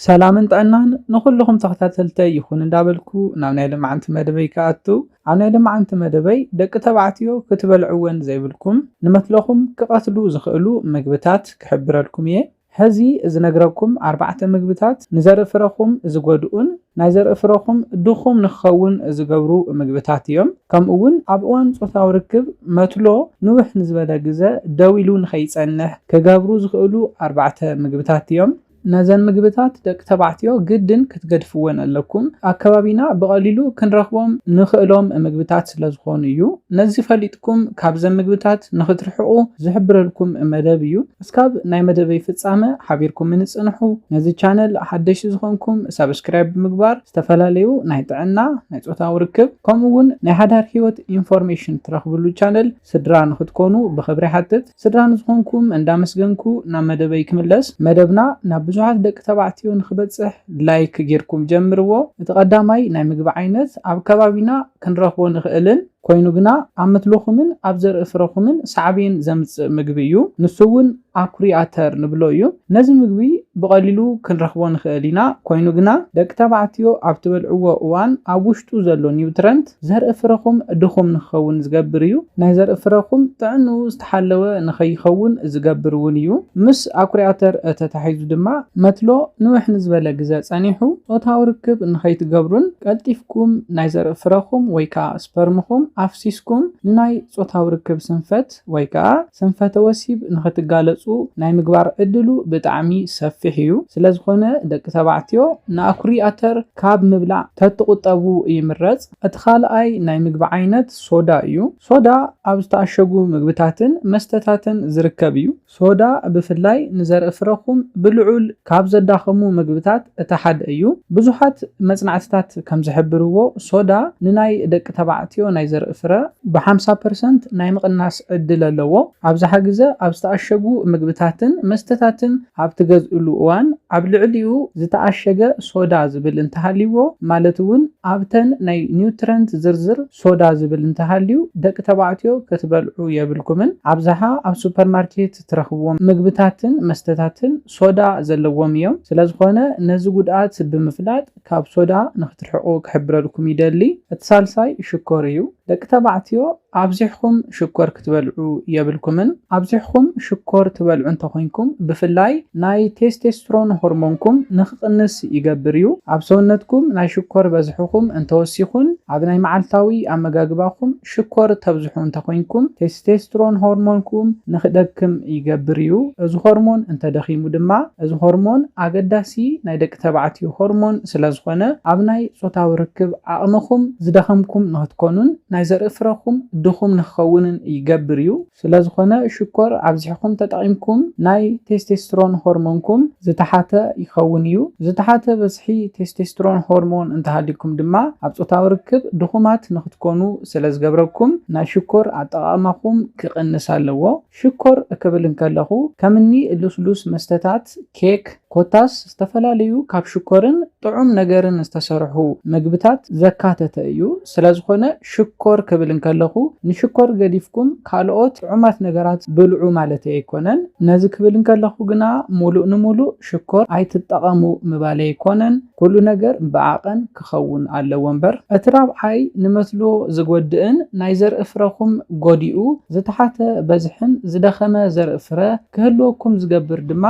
ሰላምን ጥዕናን ንኹሉኹም ተኸታተልተይ ይኹን እንዳበልኩ ናብ ናይ ልማዓንቲ መደበይ ክኣቱ ኣብ ናይ ልማዓንቲ መደበይ ደቂ ተባዕትዮ ክትበልዕወን ዘይብልኩም ንመትለኹም ክቐትሉ ዝኽእሉ ምግብታት ክሕብረልኩም እየ ሐዚ ዝነግረኩም ኣርባዕተ ምግብታት ንዘርኢ ፍረኹም ዝጎድኡን ናይ ዘርኢ ፍረኹም ድኹም ንክኸውን ዝገብሩ ምግብታት እዮም ከምኡ እውን ኣብ እዋን ፆታዊ ርክብ መትሎ ንውሕ ንዝበለ ግዘ ደው ኢሉ ንከይፀንሕ ክገብሩ ዝኽእሉ ኣርባዕተ ምግብታት እዮም ነዘን ምግብታት ደቂ ተባዕትዮ ግድን ክትገድፍወን ኣለኩም ኣከባቢና ብቀሊሉ ክንረክቦም ንክእሎም ምግብታት ስለ ዝኮኑ እዩ ነዚ ፈሊጥኩም ካብዘን ምግብታት ንክትርሕቁ ዝሕብረልኩም መደብ እዩ እስካብ ናይ መደበይ ፍጻመ ሓቢርኩምኒ ጽንሑ ነዚ ቻነል ሓደሽቲ ዝኮንኩም ሳብስክራይብ ብምግባር ዝተፈላለዩ ናይ ጥዕና ናይ ጾታዊ ርክብ ከምኡ ውን ናይ ሓዳር ሂወት ኢንፎርሜሽን ትረክብሉ ቻነል ስድራ ንክትኮኑ ብክብሪ ይሓትት። ስድራ ንዝኾንኩም እንዳመስገንኩ ናብ መደበይ ክምለስ መደብና ናብ ብዙሓት ደቂ ተባዕትዮ ንኽበጽሕ ላይክ ጌርኩም ጀምርዎ እቲ ቀዳማይ ናይ ምግቢ ዓይነት ኣብ ከባቢና ክንረኽቦ ንኽእልን ኮይኑ ግና ኣብ ምትልኹምን ኣብ ዘርኢ ፍረኹምን ሳዕቤን ዘምጽእ ምግቢ እዩ ንሱ ውን ኣኩሪ ኣተር ንብሎ እዩ ነዚ ምግቢ ብቐሊሉ ክንረኽቦ ንኽእል ኢና ኮይኑ ግና ደቂ ተባዕትዮ ኣብ ትበልዕዎ እዋን ኣብ ውሽጡ ዘሎ ኒውትረንት ዘርኢ ፍረኹም ድኹም ንክኸውን ዝገብር እዩ። ናይ ዘርኢ ፍረኹም ጥዕንኡ ዝተሓለወ ንኸይኸውን ዝገብር እውን እዩ። ምስ ኣኩሪ ኣተር ተታሒዙ ድማ መትሎ ንውሕ ንዝበለ ግዘ ፀኒሑ ፆታዊ ርክብ ንኸይትገብሩን ቀልጢፍኩም ናይ ዘርኢ ፍረኹም ወይ ከዓ ስፐርምኹም ኣፍሲስኩም ንናይ ፆታዊ ርክብ ስንፈት ምኽንያት ወይ ከኣ ስንፈተ ወሲብ ንኽትጋለጹ ናይ ምግባር ዕድሉ ብጣዕሚ ሰፊሕ እዩ። ስለዝኾነ ደቂ ተባዕትዮ ንኣኩሪ ኣተር ካብ ምብላዕ ተትቑጠቡ ይምረጽ። እቲ ካልኣይ ናይ ምግቢ ዓይነት ሶዳ እዩ። ሶዳ ኣብ ዝተኣሸጉ ምግብታትን መስተታትን ዝርከብ እዩ። ሶዳ ብፍላይ ንዘርኢ ፍረኹም ብልዑል ካብ ዘዳኸሙ መግብታት እቲ ሓደ እዩ። ብዙሓት መጽናዕትታት ከም ዝሕብርዎ፣ ሶዳ ንናይ ደቂ ተባዕትዮ ናይ ዘርኢ ፍረ ብሓምሳ ፐርሰንት ናይ ምቕናስ ዕድል ኣለዎ። ኣብዝሓ ግዘ ኣብ ዝተኣሸጉ ምግብታትን መስተታትን ኣብ ትገዝእሉ እዋን ኣብ ልዕሊኡ ዝተኣሸገ ሶዳ ዝብል እንተሃልይዎ ማለት እውን ኣብተን ናይ ኒውትረንት ዝርዝር ሶዳ ዝብል እንተሃልዩ ደቂ ተባዕትዮ ክትበልዑ የብልኩምን ኣብዝሓ ኣብ ሱፐርማርኬት ትረኽብዎም ምግብታትን መስተታትን ሶዳ ዘለዎም እዮም ስለዝኾነ ነዚ ጉድኣት ብምፍላጥ ካብ ሶዳ ንኽትርሕቁ ክሕብረልኩም ይደሊ እቲ ሳልሳይ ሽኮር እዩ ደቂ ተባዕትዮ ኣብዚሕኹም ሽኮር ክትበልዑ የብልኩምን ኣብዚሕኩም ሽኮር ትበልዑ እንተኾይንኩም ብፍላይ ናይ ቴስቴስትሮን ሆርሞንኩም ንክቕንስ ይገብር እዩ። ኣብ ሰውነትኩም ናይ ሽኮር በዝሕኹም እንተወሲኹን ኣብ ናይ መዓልታዊ ኣመጋግባኹም ሽኮር ተብዝሑ እንተኾይንኩም ቴስቴስትሮን ሆርሞንኩም ንክደክም ይገብር እዩ። እዚ ሆርሞን እንተደኺሙ ድማ እዚ ሆርሞን ኣገዳሲ ናይ ደቂ ተባዕትዮ ሆርሞን ስለዝኾነ ኣብ ናይ ፆታዊ ርክብ ዓቕምኹም ዝደኸምኩም ንክትኮኑን ናይ ዘርኢ ፍረኹም ድኹም ንክኸውንን ይገብር እዩ። ስለዝኾነ ሽኮር ኣብዚሕኹም ተጠቒምኩም ናይ ቴስቴስትሮን ሆርሞንኩም ዝተሓተ ይኸውን እዩ። ዝተሓተ በዝሒ ቴስቴስትሮን ሆርሞን እንተሃልዩኩም ድማ ኣብ ጾታዊ ርክብ ድኹማት ንኽትኮኑ ስለዝገብረኩም ናይ ሽኮር ኣጠቓቕማኹም ክቕንስ ኣለዎ። ሽኮር ክብል እንከለኹ ከምኒ ልስሉስ መስተታት፣ ኬክ፣ ኮታስ ዝተፈላለዩ ካብ ሽኮርን ጥዑም ነገርን ዝተሰርሑ መግብታት ዘካተተ እዩ። ስለዝኾነ ሽኮር ክብል እንከለኹ ንሽኮር ገዲፍኩም ካልኦት ጥዑማት ነገራት ብልዑ ማለተይ ኣይኮነን። ነዚ ክብል እንከለኹ ግና ሙሉእ ንሙሉእ ሽኮር ኣይትጠቐሙ ምባለይ ኣይኮነን። ኩሉ ነገር ብዓቐን ክኸውን ኣለዎ እምበር፣ እቲ ራብዓይ ንመስኖ ዝጎድእን ናይ ዘርኢ ፍረኹም ጎዲኡ ዝተሓተ በዝሕን ዝደኸመ ዘርኢ ፍረ ክህልወኩም ዝገብር ድማ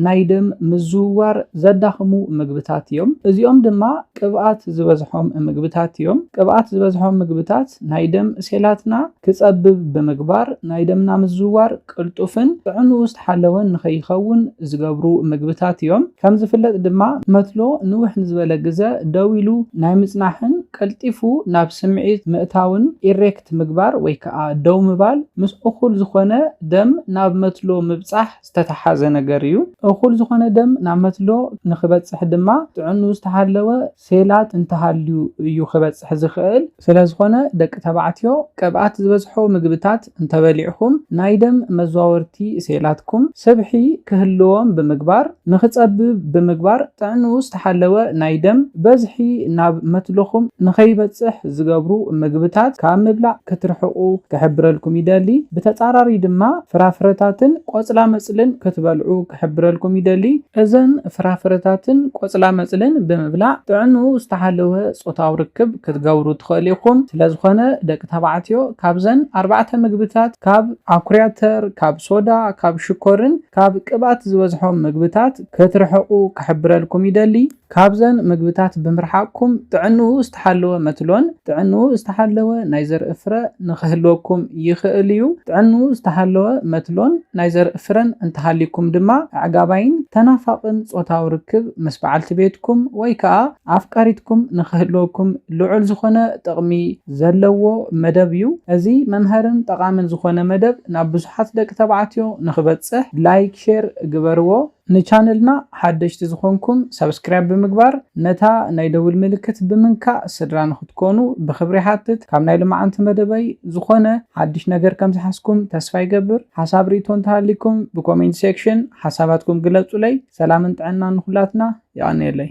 ናይ ደም ምዝውዋር ዘዳኽሙ ምግብታት እዮም። እዚኦም ድማ ቅብኣት ዝበዝሖም ምግብታት እዮም። ቅብኣት ዝበዝሖም ምግብታት ናይ ደም ሴላትና ክጸብብ ብምግባር ናይ ደምና ምዝውዋር ቅልጡፍን ጥዕንኡ ዝተሓለወን ንኸይኸውን ዝገብሩ ምግብታት እዮም። ከም ዝፍለጥ ድማ መትሎ ንውሕ ንዝበለ ግዘ ደው ኢሉ ናይ ምጽናሕን ቀልጢፉ ናብ ስምዒት ምእታውን፣ ኢሬክት፣ ምግባር ወይ ከኣ ደው ምባል ምስ እኹል ዝኾነ ደም ናብ መትሎ ምብጻሕ ዝተተሓዘ ነገር እዩ። እኹል ዝኾነ ደም ናብ መትሎ ንክበጽሕ ድማ ጥዕንኡ ዝተሓለወ፣ ሴላት እንተሃልዩ እዩ ክበጽሕ ዝኽእል። ስለዝኾነ ደቂ ተባዕትዮ ቅብኣት ዝበዝሖ ምግብታት እንተበሊዕኹም ናይ ደም መዘዋወርቲ ሴላትኩም ስብሒ ክህልዎም ብምግባር ንኽጸብብ ብምግባር ጥዕንኡ ዝተሓለወ ናይ ደም በዝሒ ናብ መትሎኹም ንኸይበጽሕ ዝገብሩ ምግብታት ካብ ምብላዕ ክትርሕቑ ክሕብረልኩም ይደሊ። ብተጻራሪ ድማ ፍራፍረታትን ቆጽላመጽልን ክትበልዑ ክሕብረልኩም ይደሊ። እዘን ፍራፍረታትን ቆጽላመጽልን ብምብላዕ ጥዕንኡ ዝተሓለወ ጾታዊ ርክብ ክትገብሩ ትኽእሉ ኢኹም። ስለዝኾነ ደቂ ተባዕትዮ ካብዘን ኣርባዕተ ምግብታት ካብ ኣኩሪኣተር፣ ካብ ሶዳ፣ ካብ ሽኮርን ካብ ቅብኣት ዝበዝሖም ምግብታት ክትርሕቑ ክሕብረልኩም ይደሊ። ካብዘን ምግብታት ብምርሓቕኩም ጥዕንኡ ዝተሓለወ መትሎን ጥዕንኡ ዝተሓለወ ናይ ዘርኢ ፍረ ንኽህልወኩም ይኽእል እዩ። ጥዕንኡ ዝተሓለወ መትሎን ናይ ዘርኢ ፍረን እንተሃልዩኩም ድማ ኣዕጋባይን ተናፋቕን ጾታዊ ርክብ ምስ በዓልቲ ቤትኩም ወይ ከኣ ኣፍቃሪትኩም ንኽህልወኩም ልዑል ዝኾነ ጥቕሚ ዘለዎ መደብ እዩ። እዚ መምሀርን ጠቓምን ዝኾነ መደብ ናብ ብዙሓት ደቂ ተባዕትዮ ንኽበጽሕ ላይክ ሼር ግበርዎ። ንቻነልና ሓደሽቲ ዝኾንኩም ሳብስክራይብ ብምግባር ነታ ናይ ደውል ምልክት ብምንካእ ስድራ ንኽትኮኑ ብኽብሪ ይሓትት። ካብ ናይ ልማዓንቲ መደበይ ዝኾነ ሓድሽ ነገር ከም ዝሓዝኩም ተስፋ ይገብር። ሓሳብ ሪኢቶ እንተሃሊኩም ብኮሜንት ሴክሽን ሓሳባትኩም ግለፁለይ። ሰላምን ጥዕናን ንኹላትና። የቐንየለይ።